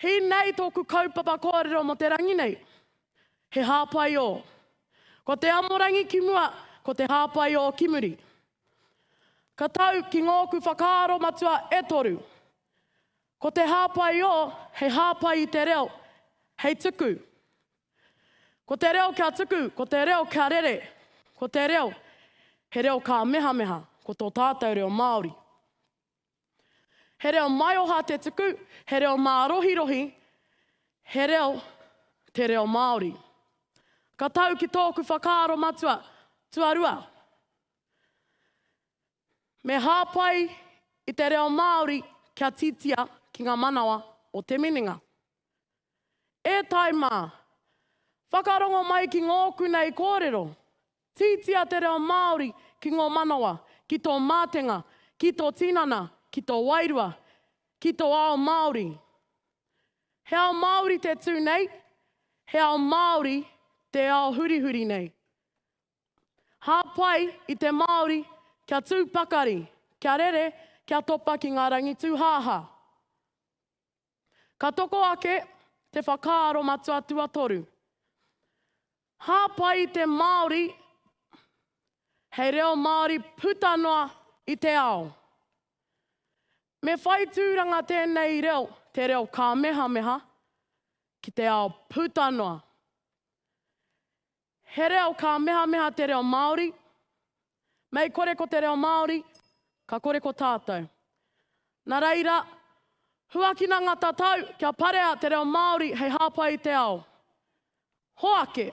He nei tōku kaupapa kōrero mō te rangi nei. He hāpai ō. Ko te amorangi ki mua, ko te hāpai ō ki muri. Ka tau ki ngōku whakaaro matua e toru. Ko te hāpai ō, hei hāpai i te reo, hei tuku. Ko te reo kia tuku, ko te reo kia rere. Ko te reo, he reo kāmehameha, ko tō tātou reo Māori. He reo maioha te tuku, he reo mārohirohi, he reo te reo Māori. Ka tau ki tōku whakaaro matua, tuarua, me hāpai i te reo Māori kia titia ki ngā manawa o te minenga. E Taima, whakarongo mai ki ngōku nei kōrero, Titia te reo Māori ki ngō manawa, ki tō mātenga, ki tō tinana, ki tō wairua, ki tō ao Māori. He ao Māori te tū nei, he ao Māori te ao hurihuri nei. Hāpai i te Māori kia tū pakari, kia rere, kia topa ki ngā rangitūhāhā. Ka toko ake te whakaaro matua tuatoru, hāpai te Māori hei reo Māori puta noa i te ao. Me whai tūranga tēnei reo, te reo kāmehameha, ki te ao puta noa. He reo kāmehameha te reo Māori. Mei kore ko te reo Māori, ka kore ko tātou. Nā reira, huakina ngā tatau kia parea te reo Māori hei hāpai i te ao. Hoake!